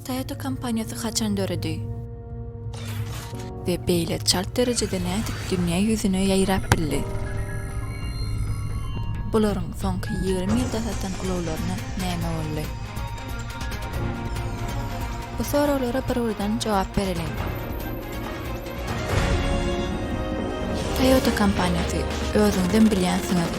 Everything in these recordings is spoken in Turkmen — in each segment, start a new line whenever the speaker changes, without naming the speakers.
Toyota kompaniýasy haçan döredi? We beýle çalt derejede nädip dünýä ýüzüne ýaýrap bildi? Bularyň soňky ýigrimi ýylda satan ulaglaryna näme boldy? Bu soraglara bir-birden jogap bereliň. Toyota kompaniýasy, özüňizem bilýänsiňiz,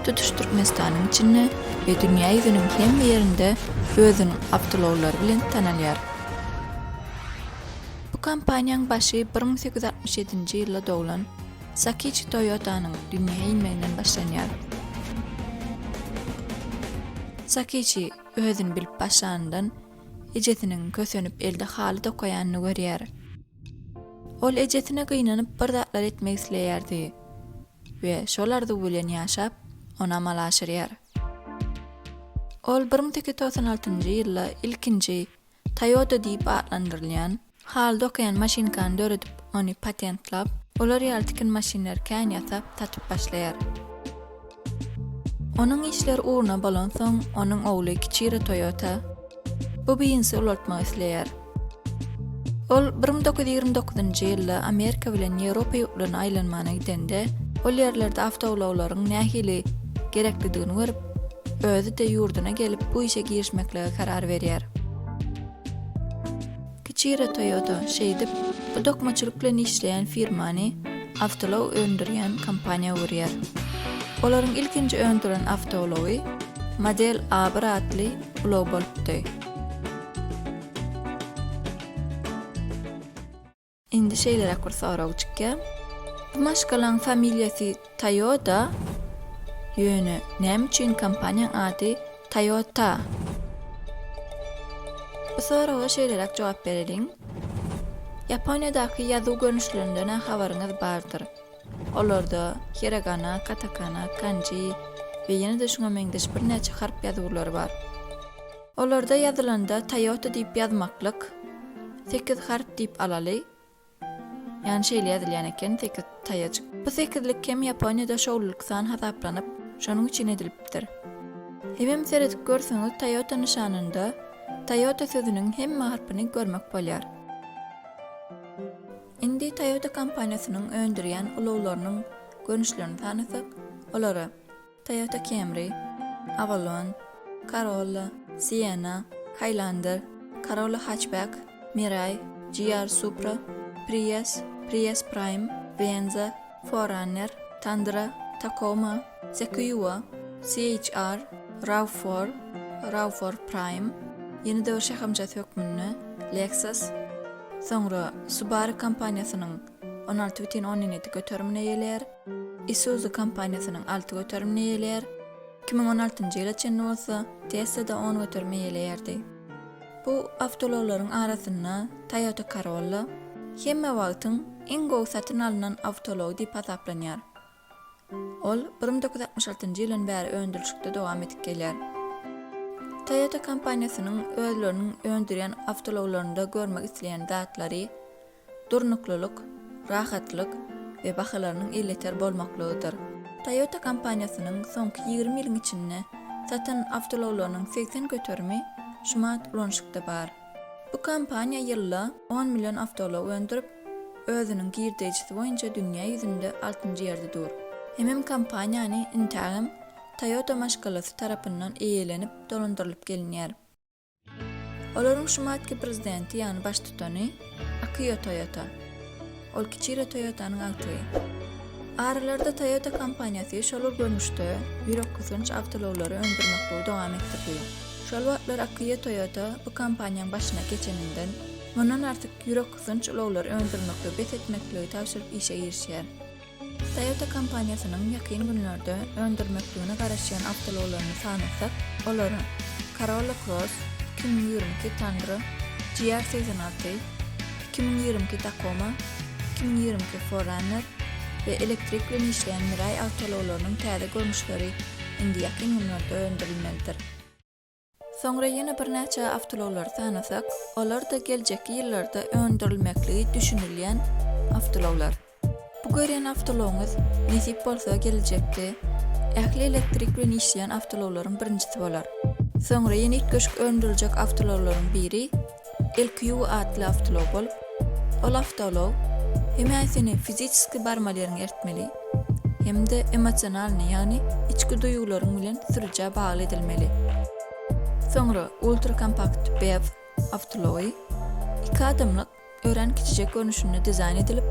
tutuş Türkmenistanyň içinde we dünýä ýüzüniň hemme ýerinde özüniň awtoulaglary bilen tanalýar. Bu kompaniýaň başy bir müň sekiz ýüz altmyş ýedinji ýylda doglan Sakiçi Toyotanyň dünýä inmeginden başlanýar. Sakiçi özüni bilip başlanyndan ejesiniň kösenip elde haly dokaýanyny görýär. Ol ejesine gynanyp bir zatlar etmek isleýärdi we şol arzuw bilen ýaşap, ony amala aşyrýar. Ol bir müň sekiz ýüz togsan altynjy ýylda ilkinji Toyota diýip atlandyrylýan haly dokaýan maşynkany döredip, ony patentlap, olar ýaly tikin maşynlary kän ýasap, satyp başlaýar. Onuň işler ugruna bolansoň, onuň ogly Kiçiro Toýota bu biznesi ulaltmak isleýär. Ol bir müň dokuz ýüz ýigrimi dokuzynjy ýylda Amerika bilen Ýewropa ýurtlaryna aýlanmana gidende, ol ýerlerde awtoulaglaryň nähili gereklidigini görüp, özi-de ýurduna gelip, bu işe girişmekligi karar berýär. Kichiro Toyota şeýdip, bu dokmaçylyk bilen işleýän firmany awtoulag öndürýän kompaniýa görýär. Olaryň ilkinji öndüren awtoulagy Model A1 atly ulag bolupdy. Indi şeýleräk bir sorag çykýar. Bu maşgalaň familiýasy Toyota? Ýöne näme üçin kompaniýaň ady Toyota? Bu soraga şeýleräk jogap bereliň. Ýaponiýadaky ýazuw görnüşlerinden-ä habaryňyz bardyr. Olarda hiragana, katakana, kanji we ýene-de şuňa meňzeş birnäçe harp ýazuwlary bar. Olarda ýazylanda Toyota diýip ýazmaklyk, sekiz harp diýip alaly, Ýany şeýle ýazylýan eken, sekiz taýajyk. Bu sekizlik hem Ýaponiýada şowlulyk san hasaplanyp, şonuň üçin edilipdir. Hemem seredip görseňiz Toyota nyşanynda Toyota sözüniň hemme harpyny görmek bolýar. Indi Toyota kompaniýasynyň öndürýän ulaglarynyň görnüşlerini sanasak, olary. Toyota Camry, Avalon, Corolla, Sienna, Highlander, Corolla Hatchback, Mirai, GR Supra, Prius, Prius Prime, Venza, 4Runner, Tundra, Tacoma, Sequoia, CHR, RAV4, RAV4 Prime, ýeni döwür şahamçasy hökmünde Lexus, soňra Subaru kompaniýasynyň on alty bütin ondan ýedi göterimine gelýär. Isuzu kompaniýasynyň alty göterimini eýeleýär, iki müň on altynjy ýyla çenli bolsa Tesla-da on göterimi eýeleýärdi. Bu awtoulaglaryň arasynda Toyota Corolla hemme wagtyň iň gowy satyn alnan awtoulagy diýip hasaplanýar. Ol bir müň doküz ýüz altmyş altynjy ýyldan bäri öndürilişikde dowam edip gelýär. Toyota kompaniýasynyň özleriniň öndürýän awtoulaglarynda görmek isleýän zatlary durnuklylyk, rahatlyk we bahalarynyň elýeter bolmaklygydyr. Toyota kompaniýasynyň soňky ýigrimi ýylyň içinde satan awtoulaglarynyň segsen göterimi şu mant ulanyşykda bar. Bu kompaniýa ýylda on million awtoulag öndürip, özüniň girdeýjisi boýunça dünýä ýüzünde altynjy ýerde dur. Hemem kompaniýany intägem Toyota maşgalasy tarapyndan eýelenip dolandyrylyp gelinýär. Olaryň şumatki prezidenti ýagny baştutany Akio Toyota. Ol Kichiro Toyotanyň agtygy. Aralarda Toyota kompaniýasy şolar görnüşde ýürek gysanç awtoulaglary öndürmekliu dowam etdirdi. Şol wagtlar Akio Toyota bu kompaniýaň başyna geçeninden mundan artyk ýürek gysanç ulaglary öndürmekliu bes etmekligi tabşyryp işe girişýär. Toyota kompaniýasynyň ýakyn günlerde öndürmekligine garaşýan awtoulaglaryny sanasak, olara, Corolla Cross, iki müň ýigrimi iki Tundra, GR segsen alty, iki müň ýigrimi iki Tacoma, iki müň ýigrimi iki Forerunner we elektrik bilen işleýän Mirai awtoulaglarynyň täze görnüşleri indi ýakyn günlerde öndürilmelidir. Soňra ýene birnäçe awtoulaglary sanasak, olar-da geljekki ýyllarda öndürilmekligi düşünilýän awtoulaglar. Bu görýän awtoulagyňyz, nesip bolsa, geljekki ähli elektrik bilen işleýän awtoulaglaryň birinjisi bolar. Soňra ýene üýtgeşik öndüriljek awtoulaglaryň biri LQ atly awtoulogal, ol awtoulag hem seni fiziçeski barmaly ýeriňe eltmeli, hem-de emosionalnyý, ýagny içki duýgularyň bilen sürüjä bagly edilmeli. Soňra Ultrakompakt BEV awtoulagy iki adamlyk örän kiçijek görnüşinde dizaýn edilip,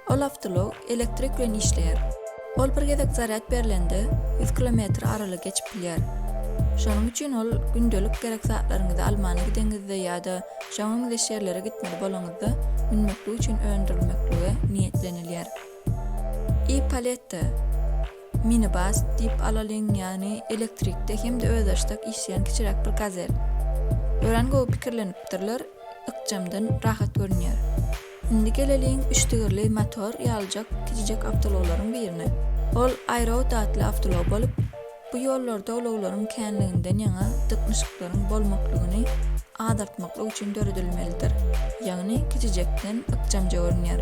Ol awtoulag elektrik bilen işleýär. Ol bir gezek zarýad berlende, ýüz kilometr aralygy geçip bilýär. Şonuň üçin ol gündelik gerek zatlaryňyzy almana gideňizde ýa-da şoňa meňzeş ýerlere gitmeli bolaňyzda münmeklik üçin öndürilmeklige niýetlenilýär. E-Palette, minibus diýip alalyň, ýagny elektrikde hem-de özbaşdak işleýän kiçiräk bir gazel. Örän gowy pikirlenipdirler, ykjamdan, rahat görünýär. Indi geleliň üçdigirli motor ýalyjak kiçijek awtoulaglaryň birine. Ol iRoad atly awtoulag bolup, bu ýollarda ulaglaryň känliginden ýaňa dyknyşyklaryň bolmaklygyny azaltmaklyk üçin döredilmelidir, ýagny kiçijekden ykjamja görünýär.